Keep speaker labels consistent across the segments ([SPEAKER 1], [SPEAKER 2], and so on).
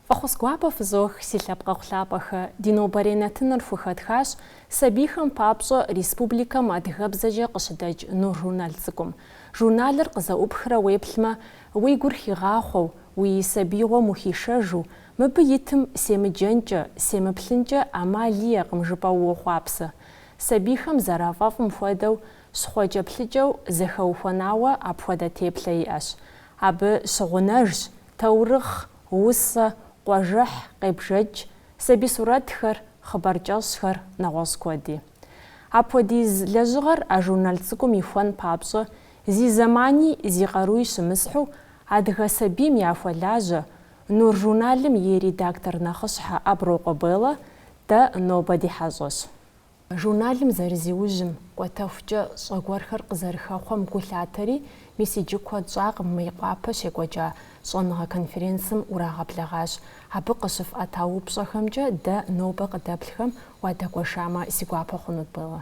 [SPEAKER 1] Фӏэхъус гуапэ фызох, си лъэпкъэгъу лъапӏэхэ! Ди нобэрей нэтыныр хухэтхащ сабийхэм папщӏэ республикэм адыгэбзэкӏэ къыщыдэкӏ Нур журнал цӏыкӏум. Журналыр къызэӏупхрэ уеплъмэ, уи гур хигъахъуэу, уи сабиигъуэм ухишэжу, Мыбы итым семыджэнкӏэ, семыплъынкӏэ ӏэмал иӏэкъым жыпӏэу уохъуапсэ. Сабийхэм зэрафӏэфӏым хуэдэу, щхъуэкӏэплъыкӏэу зэхэухуэнауэ апхуэдэ теплъэ иӏэщ. Абы щыгъунэжщ таурыхъ, усэ, къуажэхь, къебжэкӏ, сабий сурэтхэр, хъыбар кӏэщӏхэр, нэгъуэщӏ куэди. Апхуэдиз лэжьыгъэр а журнал цӏыкӏум ихуэн папщӏэ, зи зэмани зи къаруи щымысхьу, адыгэ сабийм яхуэлажьэ, Нур журналым и редактор нэхъыщхьэ Аброкъуэ Беллэ дэ нобэ ди хьэщӏэщ. Журналым зэрызиужьым, кӏуэтэхукӏэ щӏэ гуэрхэр къызэрыхэхъуэм гу лъатэри, мис иджы куэд щӏакъым Мейкъуапэ щекӏуэкӏа щӏэныгъэ конференцым урагъэблэгъащ. Абы къыщыфӏэта упщӏэхэмкӏэ дэ нобэ къыдэплъхэм уадэгуэшамэ, си гуапэ хъунут, Беллэ.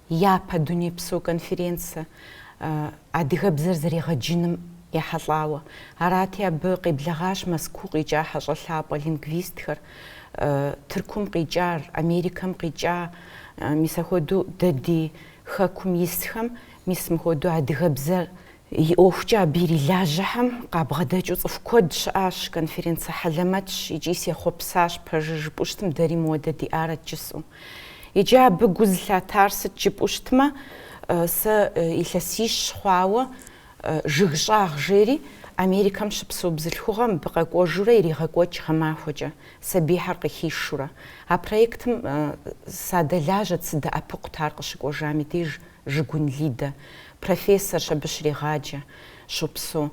[SPEAKER 2] Япэ дунейпсо конференцэ адыгэбзэр зэрегъэджыным ехьэлӏауэ. Арати, абы къеблэгъащ Мэзкуу къикӏа хьэщӏэ лъапӏэ лингвистхэр, Тыркум къикӏар, Америкэм къикӏа, мис ахуэдэу дэ ди хэкум исхэм, мис мыхуэдэу адыгэбзэр И ӏуэхукӏэ абы ирилажьэхэм къабгъэдэкӏыу цӏыху куэд щыӏащ, конференцэ хьэлэмэтщ икӏи сехъуэпсащ пэжыр жыпӏэу щытым, дэри мыуэдэ диӏарэт жысӏэу. Иджы абы гу зылъатар сыт жыпӏэу щытмэ, сэ илъэсищ хъуауэ Жыг щӏагъ жери Америкэм щыпсэу бзылъхугъэ мыбы къэкӏуэжурэ иригъэкӏуэкӏ гъэмахуэкӏэ, сабийхэр къыхишурэ. А проектым садэлажьэт сыдэӏэпыкъут ар къыщыкӏуэжам и деж. Жыгун Лидэ, профессорщ, абы щрегъаджэ, щопсэу.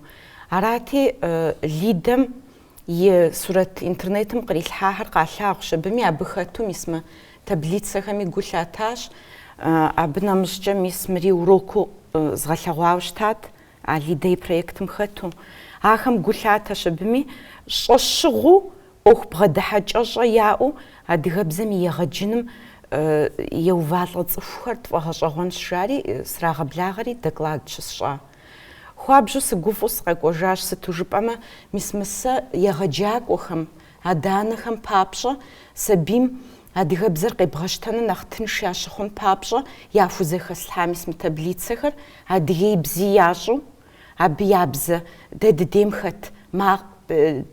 [SPEAKER 2] Арати, Лидэм и сурэт интернетым кърилъхьахэр къалъагъущ, абыми абы хэту мис мы таблицэхэми гу лъатащ. Абы нэмыщӏкӏэ мис мыри уроку згъэлъэгъуауэ щытат, А Лидэ и проектым хэту. Ахэм гу лъатэщ абыми, щӏэщыгъуу, ӏуэху бгъэдыхьэкӏэщӏэ яӏэу адыгэбзэм и егъэджыным еувалӏэ цӏыхухэр тфӏэгъэщӏэгъуэнщ, жари срагъэблагъэри доклад щысщӏа. Хуабжьу сыгуфӏу сыкъэкӏуэжащ, сыту жыпӏэмэ, мис мы сэ егъэджакӏуэхэм, адэ-анэхэм папщӏэ сабийм Адыгэбзэр къебгъэщтэну нэхъ тынш ящыхъун папщӏэ яхузэхэслъхьа мис мы таблицэхэр адыгеибзи ящӏу, абы я бзэ, дэ дыдейм хэт макъ,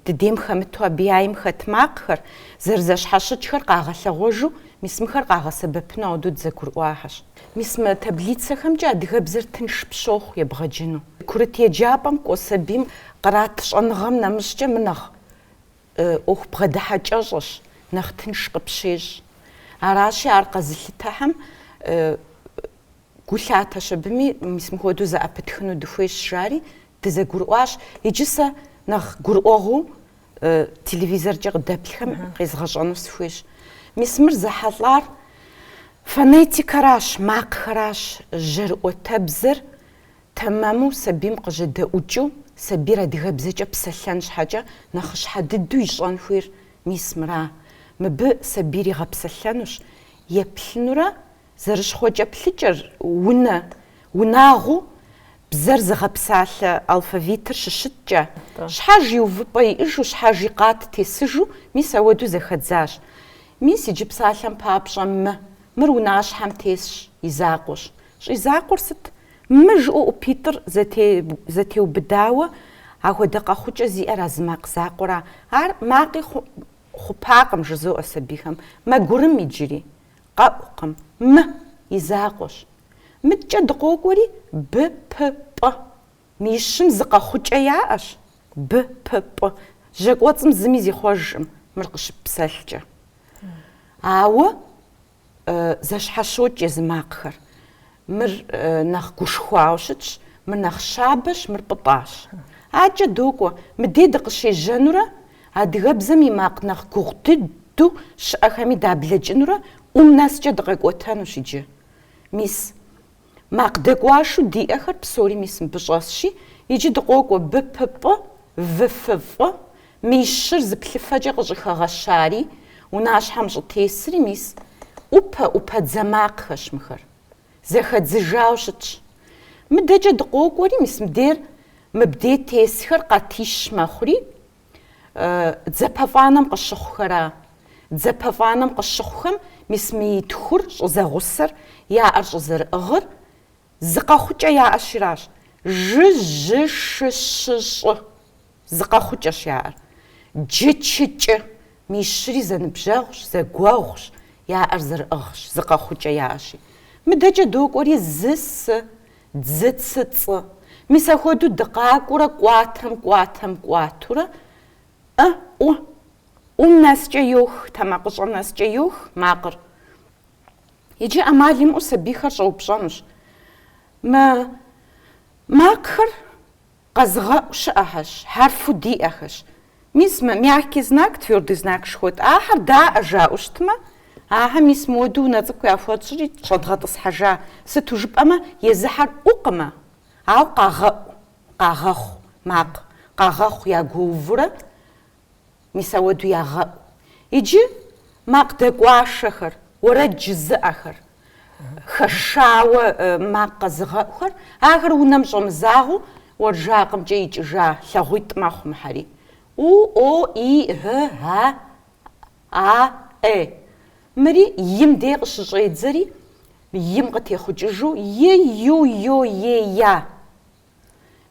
[SPEAKER 2] дыдейм хэмыту абы яйм хэт макъхэр, зэрызэщхьэщыкӏхэр къагъэлъэгъуэжу мис мыхэр къагъэсэбэпыну ауэдэу дызэгурыӏуахэщ. Мис мы таблицэхэмкӏэ адыгэбзэр тынш пщохъу ебгъэджыну. Курыт еджапӏэм кӏуэ сабийм кърат щӏэныгъэм нэмыщӏкӏэ мы нэхъ. ӏуэху бгъэдыхьэкӏэщӏэщ, нэхъ тынш къыпщещӏ. Аращи, ар къэзылъытэхэм гу лъатэщ абыми, мис мыхуэдэу зэӏэпытхыну дыхуейщ, жари, дызэгурыӏуащ. Иджы сэ нэхъ гурыӏуэгъуу телевизоркӏэ къыдэплъхэм къезгъэщӏэну сыхуейщ. Мис мыр зэхьэлӏар фонетикэращ, макъхэращ, жьэрыӏуатэбзэр. Тэмэму сабийм къыжьэдэӏукӏыу, сабийр адыгэбзэкӏэ псэлъэн щхьэкӏэ нэхъыщхьэ дыдэу ищӏэн хуейр мис мыра. Мыбы сабийр игъэпсэлъэнущ, еплъынурэ, зэрыщхъуэкӏэплъыкӏэр, унэ, унагъуу, бзэр зыгъэпсалъэ алфавитыр щыщыткӏэ, щхьэж и увыпӏэ иӏыжу, щхьэж и къат тесыжу, мис ауэдэу зэхэдзащ. Мис иджы псалъэм папщӏэ мы, мыр унащхьэм тесщ, и закъуэщ. Щӏизакъуэр сыт? Мы жиӏу ӏупитӏыр зэтеубыдауэ, ахуэдэ къэхъукӏэ зиӏэр а зы макъ закъуэра? Ар макъи хъупакъым, жызоӏэ сабийхэм. Мэгурым иджыри. Къэӏукъым. Мы, и закъуэщ. Мыдкӏэ дыкъокӏуэри, Б, П, Пӏ. Мыищым зы къэхъукӏэ яӏэщ, Б, П, Пӏ. Жьэ кӏуэцӏым зыми зихъуэжкъым, мыр къыщыппсэлъкӏэ. Ауэ Зэщхьэщокӏ езы макъхэр. Мыр нэхъ гушхуауэ щытщ, мыр нэхъ щабэщ, мыр пӏытӏащ. Акӏэ докӏуэ, мыдей дыкъыщежьэнурэ, адыгэбзэм и макъ нэхъ гугъу дыдэу щыӏэхэми даблэкӏынурэ ӏум нэскӏэ дыкъэкӏуэтэнущ иджы. Мис. Макъ дэкӏуашу диӏэхэр псори мис мыбы щӏэсщи, иджы дыкъокӏуэ Б, П, Пӏ, В, Ф, Фӏ, мищыр зы плъыфэкӏэ къыщӏыхэгъэщари, унащхьэм щӏытесри мис ӏупэ, ӏупэдзэ макъхэщ мыхэр. Зэхэдзыжауэ щытщ. Мыдэкӏэ дыкъокӏуэри, мис мыбдейр мыбдей тесхэр къатищ мэхъури, Дзэпэфӏанэм къыщыхъухэра. Дзэпэфӏанэм къыщыхъухэм мис мы итхур щӏызэгъусэр яӏэр щӏызэрыӏыгъыр зы къэхъукӏэ яӏэщиращ, жы-жьы-шы-щы-щӏы, зы къэхъукӏэщ яӏэр. Джы-чы-кӏы, мищри зэныбжьэгъущ, зэгуэгъущ, яӏэр зэрыӏыгъщ, зы къэхъукӏэ яӏэщи. Мыдэкӏэ докӏуэри зы-сы. Дзы цы цӏы. Мис ахуэду дыкъакӏуурэ кӏуатэм кӏуатэм кӏуатурэ ӏы ӏу ӏум нэскӏэ йох, тэмакъыщӏэ нэскӏэ йох макъыр. Иджы ӏэмал имыӏэу сабийхэр щӏэупщӏэнущ. Мы макъхэр Къэзыгъэӏу щыӏэхэщ, хьэрфу диӏэхэщ. Мис мэ, мягкий знак, твёрдый знак шхуэт, ахэр даӏэ жаӏэу щытмэ, ахэр мис мыуэду унэ цӏыкӏу яхуэтщӏри щӏэдгъэтӏысхьэжа, сыту жыпӏэмэ, езыхьэр ӏукъымэ, ауэ къагъэӏу, къагъэхъу, макъ, къагъэхъу ягуэувурэ Мис ауэду ягъэӏу. Иджы макъ дэкӏуашэхэр, уэрэд жызыӏэхэр, хэшауэ макъ къэзыгъэӏухэр, ахэр унэм щӏэмызагъэу уэнжакъымкӏэ икӏыжа лъагъуитӏ мэхъу мыхьэри. У, о, и, ы, а, а, э. Мыри им дей къыщыщӏедзэри, им къытехъукӏыжу, е, ю, йо, е, я.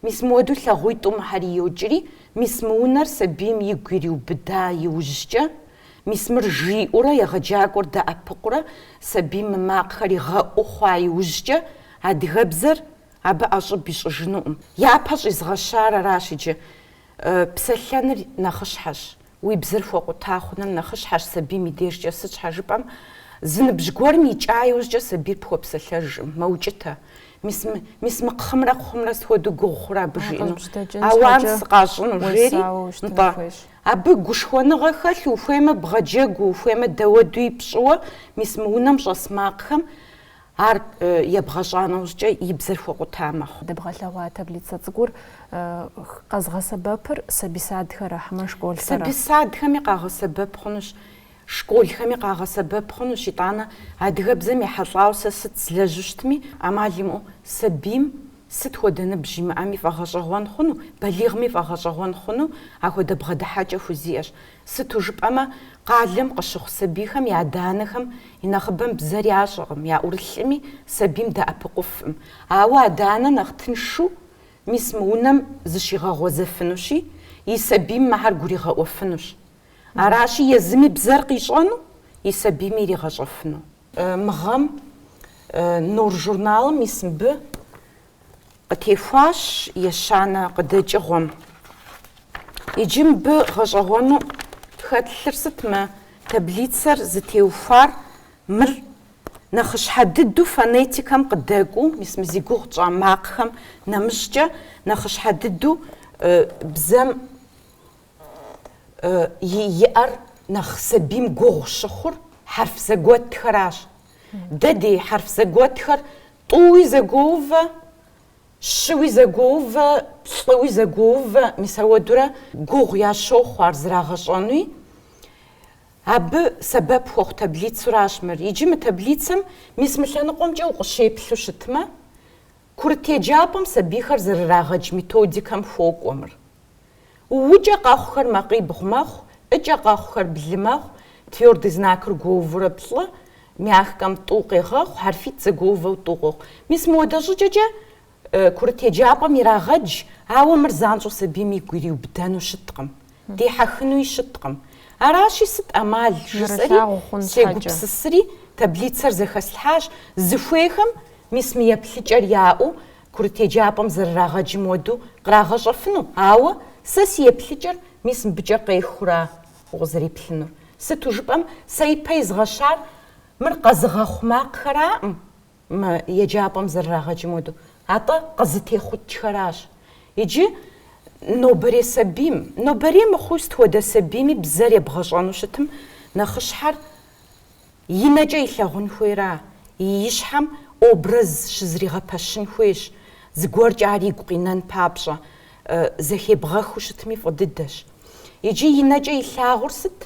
[SPEAKER 2] Мис мыуэду лъагъуитӏу мыхьэри йокӏри, мис мы унэр сабийм игу ириубыда иужькӏэ, мис мыр жиӏэурэ егъэджакӏуэр дэӏэпыкъурэ сабийм мы макъхэр игъэӏуу хъуа иужькӏэ, адыгэбзэр абы ӏэщӏыб ищӏыжынукъым. Япэ щӏизгъэщар аращ иджы. Псэлъэныр нэхъыщхьэщ. Уи бзэр хуэкъута хъуныр нэхъыщхьэщ сабийм и дежкӏэ, сыт щхьэ жыпӏэм, зы ныбжь гуэрым икӏа иужькӏэ сабийр пхуэпсэлъэжкъым, мэукӏытэ. Мис, мис мы кхъымрэ кхъумрэ сыт хуэдэу гугъу хъурэ абы жиӏэну? Ауан сыкъащӏыну, жери, нтӏэ. Абы гушхуэныгъэ хэлъу, ухуеймэ, бгъэджэгуу, ухуеймэ, дауэдуи пщӏыуэ, мис мы унэм щӏэс макъхэм Ар ебгъэщӏа нэужькӏэ и бзэр хуэкъута мэхъу. Дэбгъэлъэгъуа
[SPEAKER 1] таблицэ цӏыкӏур къэзыгъэсэбэпыр сабий садхэра хьэмэ школхэра? Сабий садхэми
[SPEAKER 2] къагъэсэбэп хъунущ, школхэми къагъэсэбэп хъунущ, итӏанэ адыгэбзэм ехьэлӏауэ сэ сыт злэжьу щытми, ӏэмал имыӏэу сабийм сыт хуэдэ ныбжь имыӏэми фӏэгъэщӏэгъуэн хъуну, балигъми фӏэгъэщӏэгъуэн хъуну ахуэдэ бгъэдыхьэкӏэ хузиӏэщ. Сыту жыпӏэмэ, къалэм къыщыхъу сабийхэм я адэ-анэхэм и нэхъыбэм бзэр ящӏэкъым, яӏурылъкъыми, сабийм дэӏэпыкъуфкъым. Ауэ адэ-анэ нэхъ тыншу, мис мы унэм зыщигъэгъуэзэфынущи, и сабийм мыхьэр гуригъэӏуэфынущ. Аращи, езыми бзэр къищӏэну, и сабийми иригъэщӏэфыну. Мы гъэм Нур журналым ис мыбы Къытехуащ ещанэ къыдэкӏыгъуэм. Иджы мыбы гъэщӏэгъуэну хэтлъыр сыт мы таблицэр зытеухуар? Мыр нэхъыщхьэ дыдэу фонетикэм къыдэкӏуэу, мис мы зи гугъу тщӏа макъхэм нэмыщӏкӏэ нэхъыщхьэ дыдэу бзэм иӏэр нэхъ сабийм гугъу щыхъур хьэрф зэгуэтхэращ. Дэ дей хьэрф зэгуэтхэр тӏууи зэгуоувэ, щыуи зэгуоувэ, плӏыуи зэгуоувэ, мис ауэдурэ гугъу ящохъу ар зрагъэщӏэнуи. Абы сэбэп хуэхъу таблицуращ мыр. Иджы мы таблицэм мис мы лъэныкъуэмкӏэ укъыщеплъу щытмэ, Курыт еджапӏэм сабийхэр зэрырагъэдж методикэм хуокӏуэ мыр. Укӏэ къэхъухэр макъибгъу мэхъу, ӏыкӏэ къэхъухэр блы мэхъу, твёрдый знакыр гуоувурэ плӏы, мягкэм тӏу къегъэхъу, хьэрфитӏ зэгуоувэу тӏу къохъу. Мис мыуэдэ щӏыкӏэкӏэ курыт еджапӏэм ирагъэдж, ауэ мыр занщӏэу сабийм игу ириубыдэну щыткъым. дихьэхынуи щыткъым. Аращи, сыт ӏэмал, жысӏэри, сегупсысри, таблицэр зэхэслъхьащ, зыхуейхэм мис мы еплъыкӏэр яӏэу курыт еджапӏэм зэрырагъэджым уэдэу кърагъэщӏэфыну, ауэ сэ си еплъыкӏэр мис мыбыкӏэ къехыура укъызэриплъынур? Сыту жыпӏэм, сэ ипэ изгъэщар мыр къэзыгъэхъу макъхэраӏым. мы еджапӏэм зэрырагъэджым хуэдэу, атӏэ къызытехъукӏхэращ. Иджы нобэрей сабийм, нобэрей мыхъуу сыт хуэдэ сабийми бзэр ебгъэщӏэну щытым, нэхъыщхьэр и нэкӏэ илъагъун хуейра, и щхьэм образ щызригъэпэщын хуейщ, зыгуэркӏэ ар игу къинэн папщӏэ, зэхебгъэхыу щытми фӏы дыдэщ. Иджы и нэкӏэ илъагъур сыт?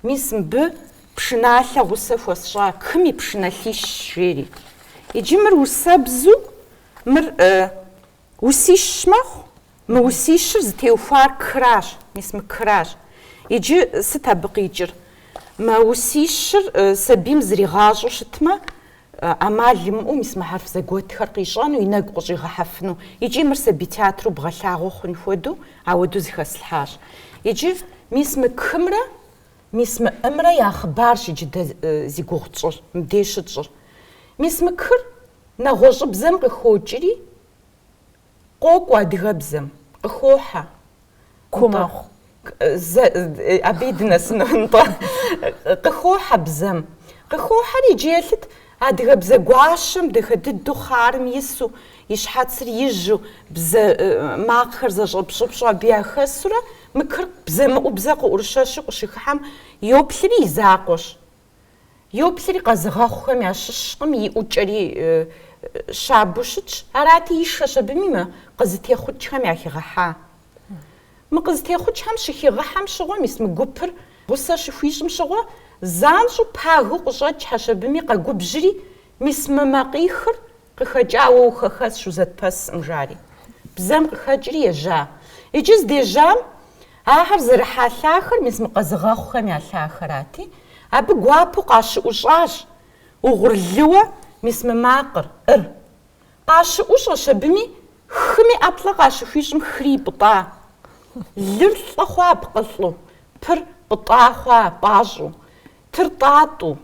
[SPEAKER 2] Мис мыбы пшыналъэ гъусэ хуэсщӏа кым и пшыналъищ, жери. Иджы мыр усэбзу, мыр усищ мэхъу, мы усищыр зытеухуар кращ, мис мы кращ. Иджы сыт абы къикӏыр? Мы усищыр сабийм зригъащӏэу щытмэ, ӏэмал имыӏэу мис мы хьэрф зэгуэтхэр къищӏэну, и нэгу къыщӏигъэхьэфыну. Икӏи мыр сабий театру бгъэлъагъуэ хъун хуэдэу ауэдэу зыхэслъхьащ. Иджы мис мы кымрэ мис мы ӏымрэ я хъыбарщ иджы дэ зи гугъу тщӏыр, мыбдеж щытщӏыр. Мис мы кыр нэгъуэщӏыбзэм къыхокӏри, Къокӏуэ адыгэбзэм, къыхохьэ.
[SPEAKER 1] Ку
[SPEAKER 2] мэхъу. Абыи дынэсыну, нтӏэ. Къыхохьэ бзэм. Къыхохьэри, иджы еплъыт адыгэбзэ гуащэм дахэ дыдэу хъарым ису, и щхьэцыр ижьу, бзэ макъхэр зэщӏэпщӏыпщӏу абы яхэсурэ, мы кыр бзэмыӏубзэ къыӏурыщэщу къыщыхыхьэм йоплъри и закъуэщ. Йоплъри къэзыгъэхъухэм ящыщкъым, и ӏукӏэри щабэу щытщ. Арати, ишэщ абыми мы къызытехъукӏхэм яхигъэхьа. Мы къызытехъукӏхэм щыхигъэхьэм щыгъуэ мис мы гупыр гъусэ щыхуищӏым щыгъуэ занщӏэу пагэу къыщӏэкӏхьэщ абыми къэгубжьри мис мы макъихыр Къыхэкӏауэ ухэхэсщ узэтпэсӏым, жари, бзэм къыхэкӏри ежьа. Иджы здежьам ахэр зэрыхьа лъахэр мис мы къэзыгъэхъухэм я лъахэрати, абы гуапэу къащыӏущӏащ угъурлыуэ мис мы макъыр, ӏыр. Къащыӏущӏэщ абыми, хыми ӏэплӏэ къащыхуищӏым хыри ипӏытӏа. Лыр лӏы хъуа пкъылӏу, пыр пӏытӏа хъуа пӏащӏу. Тыр тӏатӏу,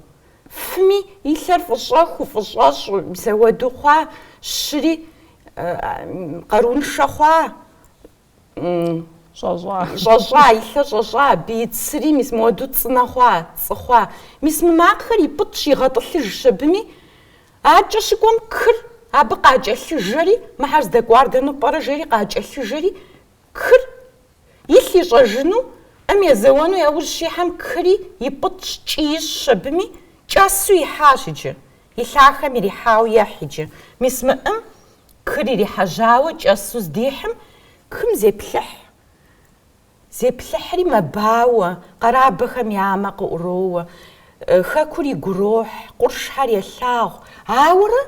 [SPEAKER 2] фыми и лъэр фӏыщӏэхуу фӏыщӏэщӏу мис ауэду хъуа, щыри къаруншэ хъуа, щӏэщӏа, и лъэр щӏэщӏа, абы и цыри мис мыуэду цӏынэ хъуа, цӏы хъуа. Мис мы макъхэр ипӏытӏщ, игъэтӏылъыжщ абыми. Акӏэ щыкӏуэм кыр абы къакӏэлъыжэри, мыхьэр здэкӏуар дэну пӏэрэ жери къакӏэлъыжэри, Кыр илъ ищӏэжыну, ӏым езэуэну яужь щихьэм кыри ипӏытӏщ, кӏы ищӏщ абыми, кӏэсу ихьащ иджы. И лъахэм ирихьауэ ехь иджы. Мис мы ӏым кыр ирихьэжьауэ кӏэсу здихьым, кым зеплъыхь. Зеплъыхьри мэбауэ, къэрабэхэм я мэ къыӏуроуэ, хэкур игурохь, къуршхьэр елъагъу. Ауэрэ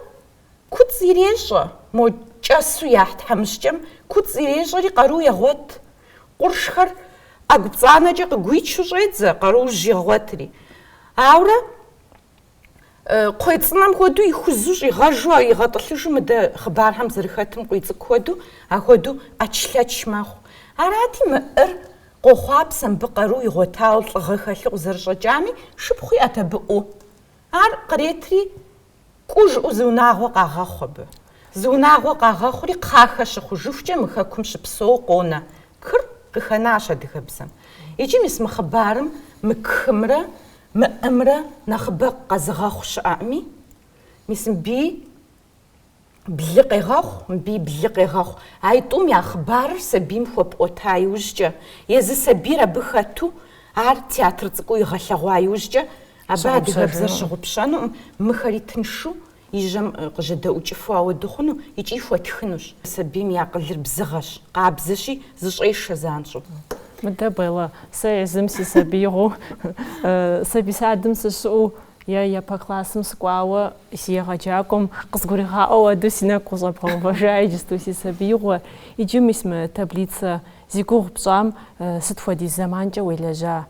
[SPEAKER 2] Куцӏ ирещӏэ, мо кӏэсу яхь тхьэмыщкӏэм куцӏ ирещӏэри къару егъуэт. Къуршхэр ӏэгупцӏанэкӏэ къыгуичу щӏедзэ къаружь игъуэтри. Ауэрэ кхъуей цӏынэм хуэдэу ихузу щӏигъэжу игъэтӏылъыжу мыдэ хъыбархэм зэрыхэтым Къуийцӏыкӏу хуэдэу, ахуэдэу ӏэчлъэч мэхъу. Арати, мы ӏыр къохъуапсэ мыбы къару игъуэтауэ лӏыгъэ хэлъу къызэрыщӏэкӏами, шыпхъу иӏэт абы ӏу. Ар къретри Кӏу жыӏэу зы унагъуэ къагъэхъу абы. Зы унагъуэ къагъэхъури кхъахэ щыхъужыхукӏэ мы хэкум щыпсэууэ къонэ кыр къыхэнащ адыгэбзэм. Иджы мис мы хъыбарым мы кымрэ мы ӏымрэ нэхъыбэ къэзыгъэхъу щыӏэӏыми, мис мыбыи Блы къегъэхъу, мыбыи блы къегъэхъу. А итӏум я хъыбарыр сабийм хуэпӏуэта иужькӏэ, езы сабийр абы хэту, ар театр цӏыкӏуу игъэлъэгъуа иужькӏэ, абы адыгэбзэр щыгъупщэнуӏым, мыхэри тыншу и жьэм къыжьэдэӏукӏыфу ауэду хъуну икӏи хуэтхынущ. Сабийм и акъылыр бзыгъэщ, къабзэщи, зыщӏешэ занщӏэу. Мыдэ, Белла,
[SPEAKER 1] сэ езым си сабиигъуэу, сабий садым сыщыӏэу, Я япэ классым сыкӏуауэ си егъэджакӏуэм къызгуригъаӏуэу адэу си нэгу къыщӏэбгъэувэжа иджысту си сабиигъуэ. Иджы мис мы таблицэ зи гугъу пщӏам сыт хуэдиз зэманкӏэ уелэжьа?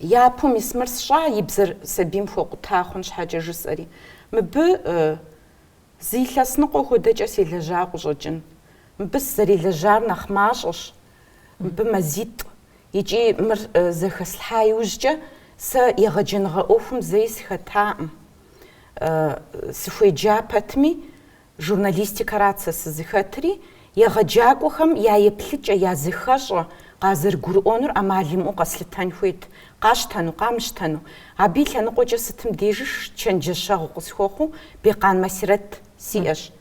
[SPEAKER 2] Япэу мис мыр сщӏа, и бзэр сабийм хуэкъута хъун щхьэкӏэ жысӏэри. Мыбы зы илъэс ныкъуэ хуэдэкӏэ селэжьа къыщӏэкӏын. Мыбы сызэрелэжьар нэхъ мащӏэщ, мыбы мазитӏ. Икӏи мыр зэхэслъхьа иужькӏэ сэ егъэджэныгъэ ӏуэхум зэи сыхэтаӏым. Сыхуеджа пэтми, журналистикэрат сэ сызыхэтри, егъэджакӏуэхэм я еплъыкӏэ, я зыхэщӏэ къазэрыгурыӏуэнур ӏэмал имыӏэу къэслъытэн хуейт, къащтэну, къамыщтэну. Абы и лъэныкъуэкӏэ сытым дежи чэнджэщэгъу къысхуэхъуу Бекъан Масирэт сиӏэщ.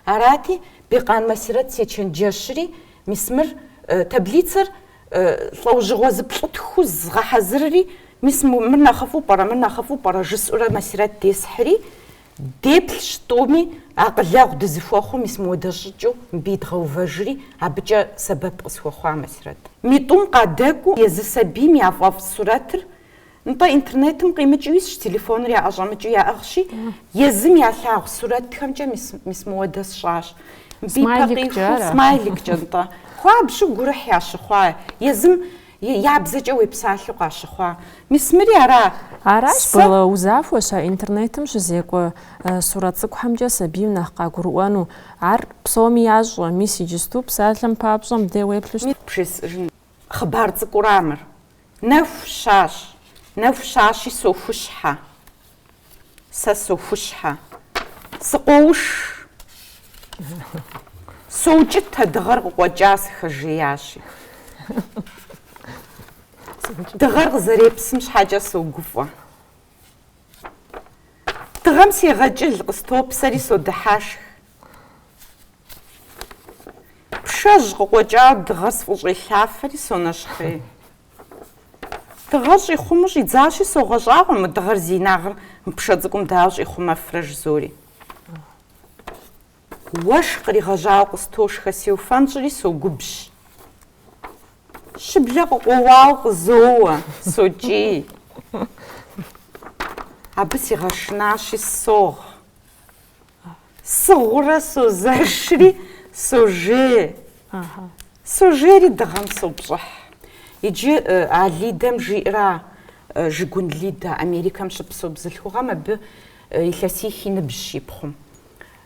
[SPEAKER 2] Арати, Бекъан Масирэт сечэнджэщри, Мис мыр, таблицэр, лӏэужьыгъуэ зыплӏытху згъэхьэзырри, мис мыр нэхъыфӏу пӏэрэ, мыр нэхъыфӏу пӏэрэ жысӏурэ Масирэт десхьри, деплъщ тӏуми, акъылэгъу дызыхуэхъуу мис мыуэдэ щӏыкӏэу мыбы идгъэувэжри, абыкӏэ сэбэп къысхуэхъуа Масирэт. Митӏум къадэкӏуэу езы сабийм яфӏэфӏ сурэтыр, Нтӏэ, интернетым къимыкӏыу исщ, телефоныр яӏэщӏэмыкӏыу яӏыгъщи, езым ялъагъу сурэтхэмкӏэ мис, мис мыуэдэ сщӏащ. Мыбы и пэ къиху смайликкӏэ, нтӏэ. Хуабжьу гурыхь ящыхъуа, езым я бзэкӏэ уепсалъэу къащыхъуа. Мис мыри ара? Аращ,
[SPEAKER 1] Белла, узахуэщ а интернетым щызекӏуэ сурэт цӏыкӏухэмкӏэ сабийм нэхъ къагурыӏуэну. Ар псоми ящӏэ, мис иджысту псалъэм папщӏэ мыдэ уеплъу щытт. Мис бжесӏэжын
[SPEAKER 2] хъыбар цӏыкӏура мыр? Нэху щащ, нэху щащи сохущхьэ. Сэ сохущхьэ. Сыкъоуш. Соукӏытэ, дыгъэр къыкъуэкӏа, сыхэжеящи. Дыгъэр къызэрепсым щхьэкӏэ согуфӏэ. Дыгъэм сегъэкӏыл, къыстопсэри содыхьэшх. Пшэжь къыкъуэкӏауэ дыгъэр сфӏыщӏелъафэри сонэщхъей. Дыгъэр щӏихъумэу щӏидзащи, согъэщӏагъуэ мы дыгъэр зи инагъыр мы пшэ цӏыкӏум дауэ щӏихъумэфрэ жызори. Уэшх къригъэжьауэ къыстошхэ сеуфэнщӏри согубжь. Щыблэ къыкъуэуауэ къызоуэ, сокӏий. Абы сигъэшынащи согъ. Сыгъыурэ созэшри сожей. Сожейри дыгъэм сопщӏыхь. Иджы а Лидэм жиӏэра Жыгун Лидэ, Америкэм щыпсэу бзылъхугъэм абы илъэсих и ныбжьщ и пхъум.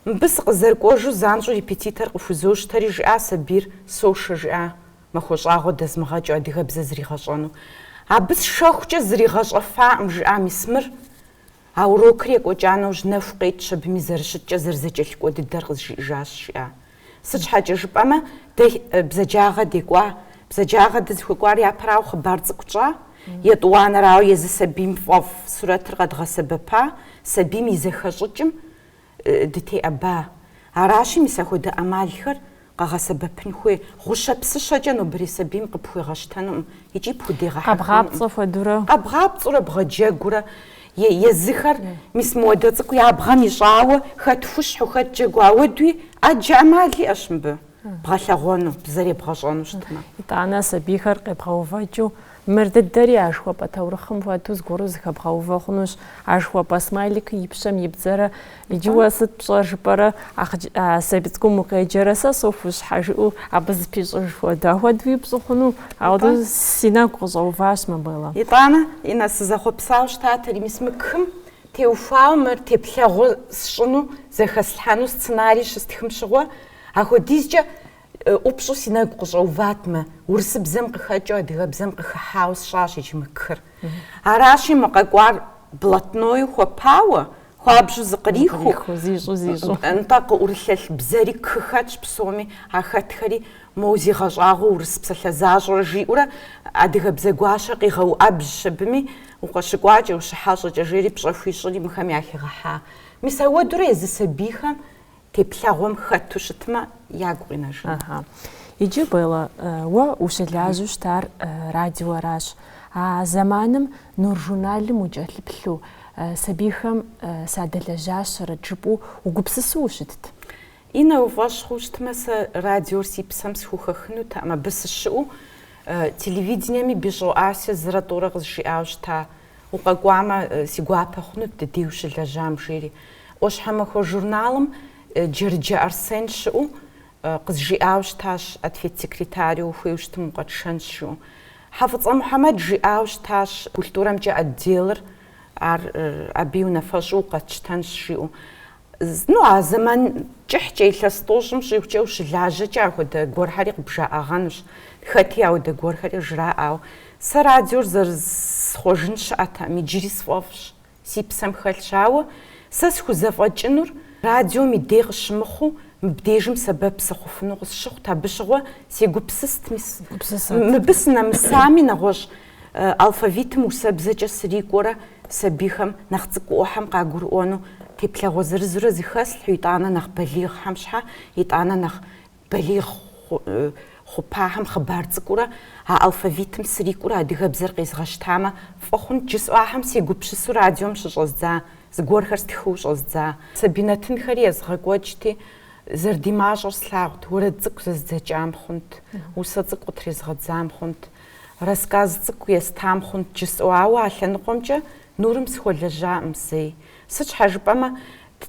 [SPEAKER 2] Мыбы сыкъызэрыкӏуэжу занщӏэу репетитор къыхузощтэри жиӏа сабийр сошэ жиӏа махуэ щӏагъуэ дэзмыгъэкӏыу адыгэбзэ зригъэщӏэну. Абы сшэхукӏэ зригъэщӏэфакъым, жиӏа мис мыр. А урокыр екӏуэкӏа нэужь нэху къетщ абыми зэрыщыткӏэ зэрызэкӏэлъыкӏуэ дыдэр къызжиӏэжащ жиӏа. Сыт щхьэкӏэ жыпӏэмэ, дэ бзаджагъэ декӏуа, бзаджагъэ дызыхуекӏуар япэрауэ хъыбар цӏыкӏу тщӏа, етӏуанэрауэ езы сабийм фӏэфӏ сурэтыр къэдгъэсэбэпа, сабийм и зэхэщӏыкӏым дытеӏэба. Аращи, мис ахуэдэ ӏэмалхэр къэгъэсэбэпын хуей гъущэ псыщэкӏэ нобэрей сабийм къыпхуегъэщтэнукъым икӏи пхудегъэхьэхынукъым. Къэбгъапцӏэ хуэдурэ.
[SPEAKER 1] Къэбгъапцӏэурэ
[SPEAKER 2] бгъэджэгурэ. Езыхэр мис моуэдэ цӏыкӏу я бгъэм ищӏауэ хэт хущхьу, хэт джэгу, ауэдуи ӏэджэ ӏэмал иӏэщ мыбы бгъэлъэгъуэну, бзэр ебгъэщӏэну щытмэ. Итӏанэ
[SPEAKER 1] сабийхэр къебгъэувэкӏыу, мыр дыдэри а жыхуэпӏэ таурыхъым хуэдэу зыгуэру зыхэбгъэувэ хъунущ. А жыхуэпӏэ смайликыр и пщэм ибдзэрэ Иджы уэ сыт пщӏэр жыпӏэрэ, сабий цӏыкӏум укъеджэрэ, сэ сохущхьэ, жыӏэу абы зыпищӏыж хуэдэ. Ахуэдэу ипщӏу хъуну? Ауэдэ си нэгу къыщӏэуващ мыбыла. Итӏанэ, Инна,
[SPEAKER 2] сызэхъуэпсауэ щытатэри, мис мы кхым теухуауэ мыр теплъэгъуэу сщӏыну, зэхэслъхьэну сценарий щыстхым щыгъуэ. Ахуэдизкӏэ ӏупщӏу си нэгу къыщӏэуватмэ, урысыбзэм къыхэкӏыу адыгэбзэм къыхыхьауэ сщӏащ иджы мы кхыр. Аращи, мы къэкӏуар блатнойуэ хуэпауэ, Хуабжьу
[SPEAKER 1] зыкърихыу, нтӏэ,
[SPEAKER 2] къыӏурылъэлъ бзэри кх хэтщ псоми, а хэтхэри, моуэ зигъэщӏагъуэу урыс псалъэ защӏэрэ, жиӏэурэ адыгэбзэ гуащэ къигъэуӏэбжьщ абыми, Укъыщыкӏуакӏэ, ущыхьэщӏэкӏэ, жери пщӏэ хуищӏри мыхэм яхигъэхьа. Мис ауэдурэ езы сабийхэм теплъэгъуэм хэту щытмэ, ягу къинэжынут. Ага.
[SPEAKER 1] Иджы, Белла, уэ ущылажьэу щытар радиоращ. А зэманым Нур журналым укӏэлъыплъу, сабийхэм садэлэжьащэрэт жыпӏэу угупсысу ущытт?
[SPEAKER 2] Иннэ, уфӏэщ хъуу щытмэ, сэ радиор си псэм схухэхынутэкъым. Абы сыщыӏэу телевидениеми Бищӏо Асэ зырэ тӏурэ къызжиӏауэ щыта. Укъэкӏуамэ, си гуапэ хъунут ди дей ущылэжьам, жери. ӏуащхьэмахуэ журналым Джэрыджэ Арсен щыӏэу къызжиӏауэ щытащ, ответ секретару, ухуейуэ щытым укъэтшэнщ, жиӏэу. Хьэфӏыцӏэ Мухьэмэд жиӏауэ щытащ, культурэмкӏэ отделыр, ар абы и унафэщӏу укъэтщтэнщ, жиӏэу. Ну, а зэман кӏыхькӏэ илъэс тӏощӏым щӏигъукӏэ ущылажьэкӏэ ахуэдэ гуэрхэри къыбжаӏэгъэнущ. Хэти ауэдэ гуэрхэри жраӏауэ. Сэ радиор зэрысхъуэжын щыӏэтэкъым, иджыри сфӏэфӏщ, си псэм хэлъщ. Ауэ сэ схузэфӏэкӏынур радиом и дей къыщымыхъуу, мыбдежым сэбэп сыхъуфыну къысщыхъут, абы щыгъуэ сегупсыст, мис мыбы сынэмысами нэгъуэщӏ Алфавитым усэбзэкӏэ срикӏуэрэ сабийхэм нэхъ цӏыкӏуӏуэхьэм къагурыӏуэну теплъэгъуэ зырызурэ зыхэслъхьу, итӏанэ нэхъ балигъхэм щхьэ, итӏанэ нэхъ балигъ хъупахьэм хъыбар цӏыкӏуурэ а алфавитым срикӏуурэ адыгэбзэр къезгъэщтамэ, фӏы хъунт жысӏэу ахьэм сегупсысу радиом щыщӏэздза зыгуэрхэр стхыу щӏэздза. Сабий нэтынхэри езгъэкӏуэкӏти, зэрыдимащӏэр слъагъут, уэрэд цӏыкӏу зэздзэкӏам хъунт, усэ цӏыкӏу къытрезгъэдзам хъунт. Рассказ цӏыкӏу естам хъунт жысӏэу, ауэ а лъэныкъуэмкӏэ Нурым сыхуэлэжьакъым зэи. Сыт щхьэ жыпӏэмэ,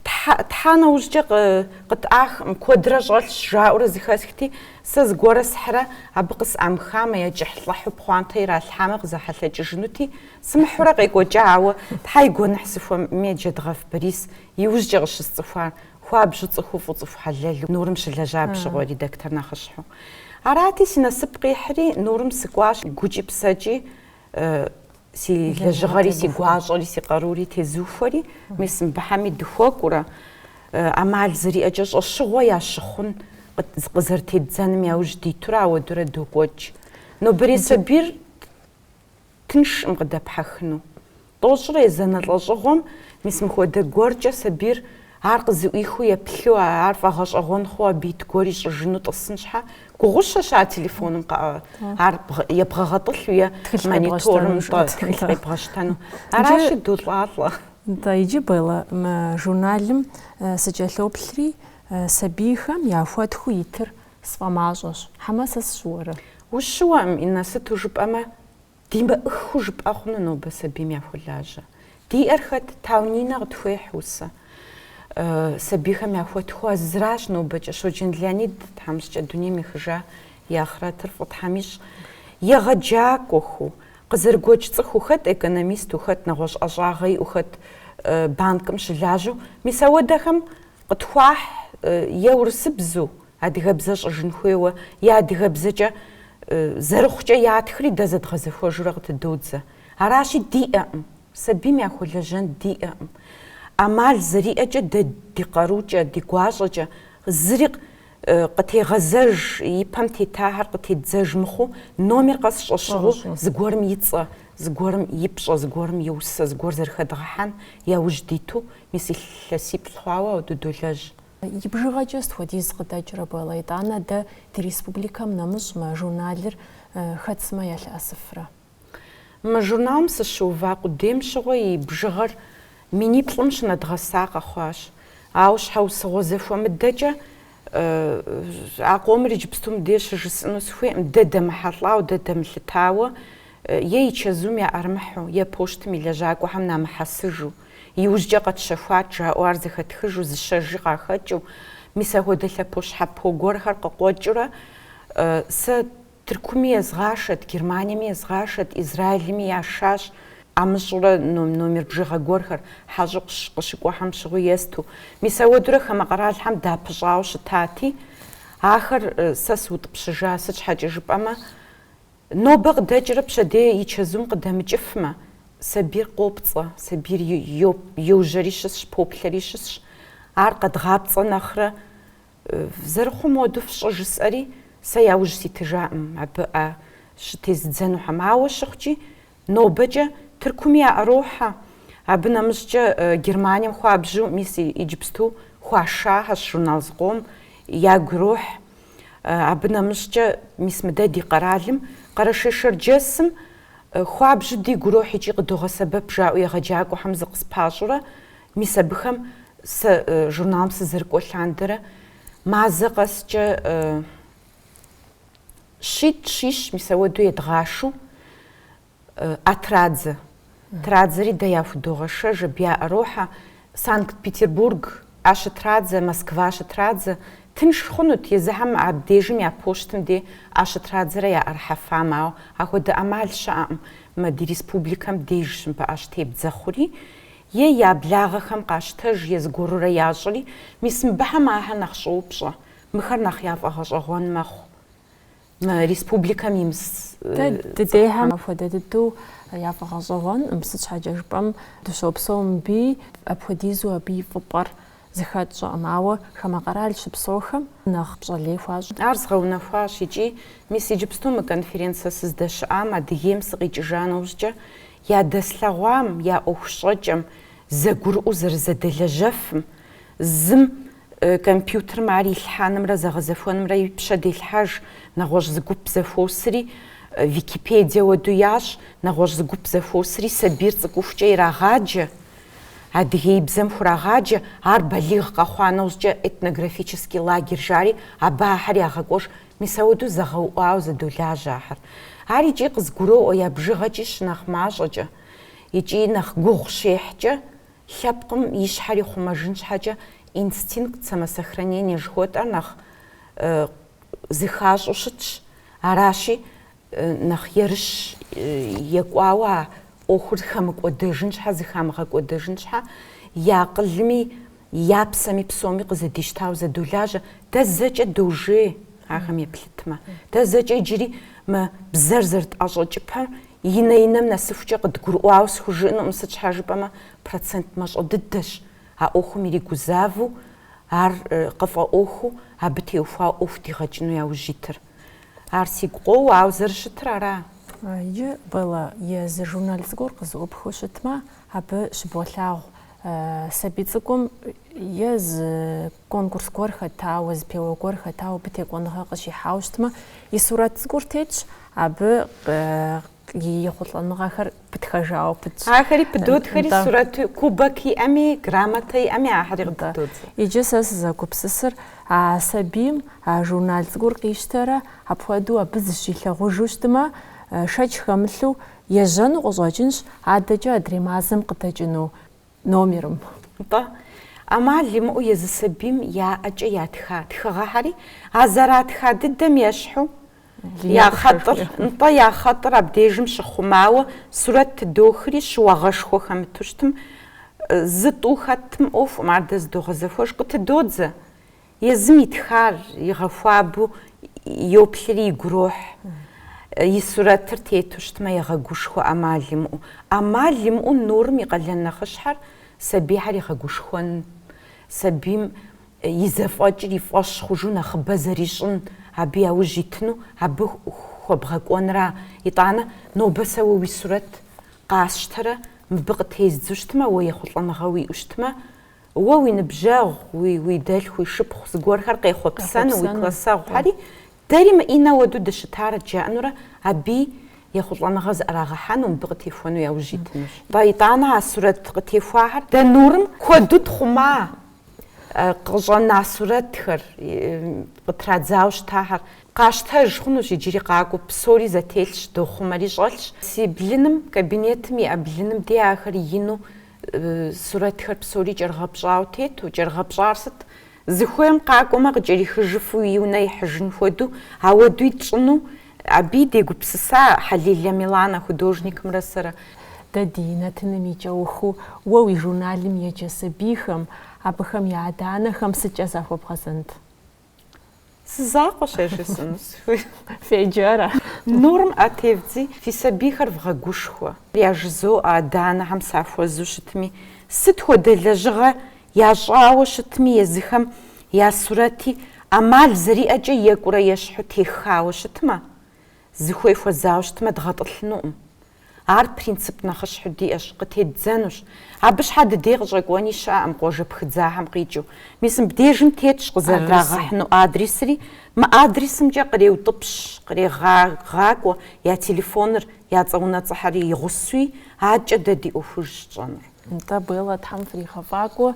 [SPEAKER 2] тх, тхьа нэужькӏэ къы, къытӏахкъым, куэдрэ щӏэлъщ, жаӏэурэ зыхэсхти, сэ зыгуэрэ схьрэ, абы къысӏамыхамэ, е кӏыхьлӏыхьу пхъуантэ иралъхьамэ, къызэхьэлъэкӏыжынути, сымыхьурэ къекӏуэкӏа, ауэ Тхьэ и гуэныхь сыхуэмейми, Джэдгъэф Борис иужькӏэ къыщысцӏыхуар Хуабжьу цӏыхуфӏу цӏыху хьэлэлу Нурым щылэжьа апщыгъуэ редактор нэхъыщхьэу. Арати, си насып къихьри, Нурым сыкӏуащ, гукӏи псэкӏи си лэжьыгъэри, си гуащӏэри, си къарури тезухуэри, мис мыбыхьэми дыхуэкӏуурэ, ӏэмал зэриӏэкӏэ щӏэщыгъуэ ящыхъун къызэрытеддзэным яужь дитурэ ауэдурэ докӏуэкӏ. Нобэрей сабийр Тыншкъым къыдэпхьэхыну. Тӏощӏрэ езанэ лӏэщӏыгъуэм мис мыхуэдэ гуэркӏэ сабийр ар къызыӏуихыу еплъу, ар фӏэгъэщӏэгъуэн хъуу абы ит гуэр ищӏыжыну тӏысын щхьэ, гугъущэщ а телефоным ар ебгъэгъэтӏылъу е мониторым тхылъ къебгъэщтэну. Аращи, долӏалӏэ. Нтӏэ, иджы,
[SPEAKER 1] Белла, журналым сыкӏэлъоплъри, сабийхэм яхуэтхыу итыр Сфӏэмащӏэщ. Хьэмэ сэ сщыуэрэ?
[SPEAKER 2] Ущыуэкъым, Иннэ, сыту жыпӏэмэ, димыӏэххэу жыпӏэ хъуну нобэ сабийм яхуэлажьэ. Диӏэр хэт, Тау Нинэ къытхуехь усэ. Сабийхэм яхуэтхыу зыращ нобэкӏэ. Щоджэн Леонид, тхьэмыщкӏэ, дунейм ехыжа и ахърэтыр фӏы Тхьэм ищӏ. Егъэджакӏуэху, къызэрыгуэкӏ цӏыхуу хэт, экономисту хэт, нэгъуэщӏ ӏэщӏагъэ иӏэу хэт, банкым щылажьэу. Мис ауэдэхэм Къытхуахь е урысыбзу адыгэбзэ щӏыжын хуейуэ, е адыгэбзэкӏэ зэрыхъукӏэ ятхри дэ зэдгъэзэхуэжурэ къытыдодзэ. Аращи, диӏэкъым, сабийм яхуэлэжьэн диӏэкъым. ӏэмал зэриӏэкӏэ дэ ди къарукӏэ, ди гуащӏэкӏэ зыри Къытегъэзэж, ипэм тетахьэр къытедзэж мыхъуу, номер къэс щӏэщыгъуу, зыгуэрым и цӏэ, зыгуэрым и пщӏэ, зыгуэрым и усэ, зыгуэр зэрыхэдгъэхьэн яужь диту, мис илъэсиплӏ хъуауэ ауэ дыдолэжь. И
[SPEAKER 1] бжыгъэкӏэ сыт хуэдиз къыдэкӏрэ, Белла, итӏанэ дэ ди республикэм нэмыщӏ, мы журналыр хэт сымэ ялъыӏэсыфрэ?
[SPEAKER 2] Мы журналым сыщыува къудейм щыгъуэ и бжыгъэр миниплӏым щынэдгъэса къэхъуащ. Ауэ щхьэусыгъуэ зэхуэмыдэкӏэ а къомыр иджыпсту мыбдеж щыжысӏыну сыхуейкъым, дэ дэмыхьэлӏауэ, дэ дэмылъытауэ, е и чэзум яӏэрымыхьу, е поштым и лэжьакӏуэхэм намыхьэсыжу. Иужькӏэ къэтщэхуат, жаӏэу ар зэхэтхыжу, зыщэжи къахэкӏыу. Мис ахуэдэ лъэпощхьэпо гуэрхэр къыкъуэкӏыурэ сэ. Тыркуми езгъашэт, Германиеми езгъашэт, Израилми яшащ. ӏэмыщӏурэ номер бжыгъэ гуэрхэр хьэщӏэу къыщыкӏуэхэм щыгъуи есту. Мис ауэдурэ хамэ къэралхэм дапыщӏауэ щытати, ахэр сэ сыутӏыпщыжа, сыт щхьэкӏэ жыпӏэмэ, нобэ къыдэкӏрэ пщэдей и чэзум къыдэмыкӏыфмэ, сабийр къопцӏэ, сабийр йо, йожьэри щысщ, поплъэри щысщ. Ар къэдгъапцӏэ нэхърэ, Зэрыхъум уэду фщӏы жысӏэри, сэ яужь ситыжакъым абы ӏэ щытезыдзэнухьэм. Ауэ щыхъукӏи, нобэкӏэ Тыркуми яӏэрохьэ. Абы нэмыщӏкӏэ Германием хуабжьу, мис иджыпсту хуашахэщ журнал зыкъом, ягу ирохь. Абы нэмыщӏкӏэ мис мыдэ ди къэралым, Къэрэшей-Шэрджэсым, хуабжьу дигу ирохь икӏи къыдогъэсэбэп, жаӏэу егъэджакӏуэхэм зыкъыспащӏурэ, Мис абыхэм сэ журналым сызэрыкӏуэ лъандэрэ мазэ къэскӏэ щитӏ, щищ, мис ауэду едгъашу ӏэ традзэ. Традзэри дэ яхудогъэшэж, абы яӏэрохьэ Санкт-Петербург ӏэщытрадзэ, Москва ӏэ щытрадзэ. Тынш хъунут, езыхэм абдежым я почтым де ӏэ щытрадзэрэ яӏэрыхьэфам, ауэ ахуэдэ ӏэмал щыӏэкъым мы ди республикэм деж щы мыбы ӏэ щытебдзэ хъури. Е я благъэхэм къащтэж е зыгуэрурэ ящӏри, мис мыбыхьэм ахэр нэхъ щӏоупщӏэ, мыхэр нэхъ яфӏэгъэщӏэгъуэн мэхъу мы республикэм имыс Дэ
[SPEAKER 1] дыдехьэм апхуэдэ дыдэу яфӏэгъэщӏэгъуэнкъым, сыт щхьэкӏэ жыпӏэм, дыщопсэу мыбыи, апхуэдизу абы и фӏыпӏэр Зыхэтщӏэкъым, ауэ хамэ къэрал щыпсэухэм нэхъ пщӏэлей хуащӏ. Ар
[SPEAKER 2] згъэунэхуащ икӏи, мис иджыпсту мы конференцэ сыздэщыӏам Адыгейм сыкъикӏыжа нэужькӏэ, ядэслъэгъуам, я ӏуэху щӏэкӏэм, зэгурыӏуэу зэрызэдэлэжьэфым, зым компьютерым ар илъхьэнымрэ зэгъэзэхуэнымрэ и пщэ делъхьэж, нэгъуэщӏ зы гуп зэхуосри Википедие уэду ящӏ, нэгъуэщӏ зы гуп зэхуосри сабийр цӏыкӏухукӏэ ирагъаджэ, Адыгеибзэм хурагъаджэ ар балигъ къэхъуа нэужькӏэ этнографический лагерь жари абы ахэр ягъэкӏуэж, мис ауэду зэгъэуӏуауэ зэдолажьэ ахэр. Ар икӏи къызгуроӏуэ я бжыгъэкӏи щынэхъ мащӏэкӏэ икӏи нэхъ гугъу щехькӏэ, лъэпкъым и щхьэр ихъумэжын щхьэкӏэ инстинкт самосохранения жыхуэтӏэр нэхъ зыхащӏу щытщ, аращи Нэхъ ерыщ екӏуауэ а ӏуэхур хэмыкӏуэдэжын щхьэ, зыхамыгъэкӏуэдэжын щхьэ, и акъылми, и псэми псоми къызэдищтауэ зэдолажьэ. Дэ зэкӏэ дожей ахэм еплъытмэ. Дэ зэкӏэ иджыри мы бзэр зэрытӏэщӏэкӏыпэр и нэ-инэм нэсыхукӏэ къыдгурыӏуауэ схужыӏэнукъым, сыт щхьэ жыпӏэмэ процент мащӏэ дыдэщ а ӏуэхум иригузавэу, ар къыфӏэӏуэхуу, абы теухуауэ ӏуэху дигъэкӏыну яужь итыр. Ар сигу къоуэ, ауэ зэрыщытыр аращ.
[SPEAKER 1] Иджы Белла езы журнал цӏыкӏур къызыӏупхыу щытмэ, абы щыболъагъу сабий цӏыкӏум е зы конкурс гуэр хэтауэ, зэпеуэ гуэр хэтауэ, абы текӏуэныгъэ къыщихьауэ щытмэ, и сурэт цӏыкӏур тетщ, абы и ехъулӏэныгъэхэр пытхэжауэ пытщ. Ахэри
[SPEAKER 2] пыдотхэри сурэт кубок иӏэми, грамотэ иӏэми ахьэри къытыдодзэ. Иджы сэ
[SPEAKER 1] сызэгупсысыр а сабийм а журнал цӏыкӏур къищтэрэ апхуэдэу абы зыщилъагъужу щытмэ, шэч хэмылъу ежьэну къыщӏэкӏынщ, адэкӏэ адрей мазэм къыдэкӏыну. номерым.
[SPEAKER 2] Нтӏэ, ӏэмал имыӏэу езы сабийм я ӏэкӏэ ятха тхыгъэхьэри а зэратха дыдэм ещхьу, я хъэтӏыр, нтӏэ, я хъэтӏыр абдежым щыхъумауэ сурэт тыдохри, щыуагъэшхуэ хэмыту щытмэ зы тӏу хэтми ӏуэхукъым ар дэ зыдогъэзэхуэж къытыдодзэ. Езым итхар игъэхуабэу йоплъри игурохь, и сурэтыр тету щытмэ егъэгушхуэ ӏэмал имыӏэу. ӏэмал имыӏэу Нурым и къалэн нэхъыщхьэр сабийхэр игъэгушхуэн, сабийм и зэфӏэкӏыр и фӏэщ хъужу нэхъыбэ зэрищӏын, абы яужь итыну, абы хуэбгъэкӏуэнра. Итӏанэ, нобэ сэ уэ уи сурэт къасщтэрэ, мыбы къытездзу щытмэ, уэ ехъулӏэныгъэ уиӏэу щытмэ, Уэ уи ныбжьэгъу, уи, уи дэлъху, уи шыпхъу зыгуэрхэр къехъуэпсэну, уи классэгъухэри дэри мы Иннэ уэду дыщытарэт жаӏэнурэ абы ехъулӏэныгъэ зыӏэрагъэхьэну, мыбы къытехуэну яужь итынущ. Ба, итӏанэ а сурэт къытехуахэр дэ Нурым куэду тхъума, къыщӏэна сурэтхэр, къытрадзауэ щытахэр къащтэж хъунущ, иджыри къакӏуэу псори зэтелъщ, дохъумэри щӏэлъщ. Си блыным, кабинетым иӏэ блыным деж ахэр ину Сурэтхэр псори кӏэрыгъэпщӏауэ тету, кӏэрыгъэпщӏар сыт? Зыхуейм къакӏуэмэ, къыкӏэрихыжыфу и унэ ихьыжын хуэдэу, ауэду тщӏыну, аби дегупсыса Хьэлилэ Миланэ художникымрэ сэрэ. Дэ
[SPEAKER 1] ди нэтыным и кӏэухыу уэ уи журналым еджэ сабийхэм, абыхэм я адэ-анэхэм сыткӏэ захуэбгъэзэнт?
[SPEAKER 2] Зы закъуэщ жысӏэну сыхуейр. Феджэ
[SPEAKER 1] Нурым,
[SPEAKER 2] ӏэ тевдзи, фи сабийхэр вгъэгушхуэ. Яжызоӏэ адэ-анэхэм сахуэзу щытми, сыт хуэдэ лэжьыгъэ ящӏауэ щытми езыхэм я сурэти ӏэмал зэриӏэкӏэ екӏурэ ещхьу теххауэ щытмэ, Зыхуей хуэзауэ щытмэ, дгъэтӏылъынукъым. Ар принцип нэхъыщхьэу диӏэщ, къытеддзэнущ. Абы щхьэ ди дей къыщӏэкӏуэни щыӏэкъым къуажэ пхыдзахэм къикӏыу. Мис мыбдежым тетщ къызэрырагъэхьыну адресри. Мы адресымкӏэ къреутӏыпщ, кърегъагъакӏуэ я телефоныр, я цӏэ унэцӏэхэри и гъусэуи, адэкӏэ дэ ди ӏуэхужщ щӏэнур. Нтӏэ,
[SPEAKER 1] Беллэ, Тхьэм фригъэфӏакӏуэ,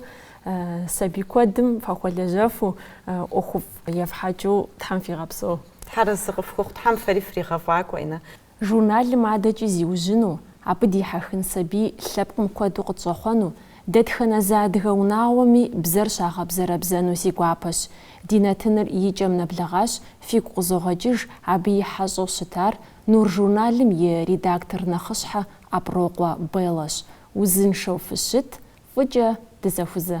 [SPEAKER 1] сабий куэдым фахуэлэжьэфу, ӏуэхуфӏ ефхьэкӏыу Тхьэм фигъэпсэу. Тхьэр арэзы
[SPEAKER 2] къыфхухъу, Тхьэм фэри фригъэфӏакӏуэ, Иннэ.
[SPEAKER 1] Журналым адэкӏи зиужьыну, абы дихьэхын сабий лъэпкъым куэду къытщӏэхъуэну, дэтхэнэ зы адыгэ унагъуэми бзэр щагъэбзэрэбзэну си гуапэщ. Ди нэтыныр и кӏэм нэблэгъащ, фигу къызогъэкӏыж абы и хьэщӏэу щытар Нур журналым и редактор нэхъыщхьэ Аброкъуэ Беллэщ. Узыншэу фыщыт, фӏыкӏэ дызэхузэ.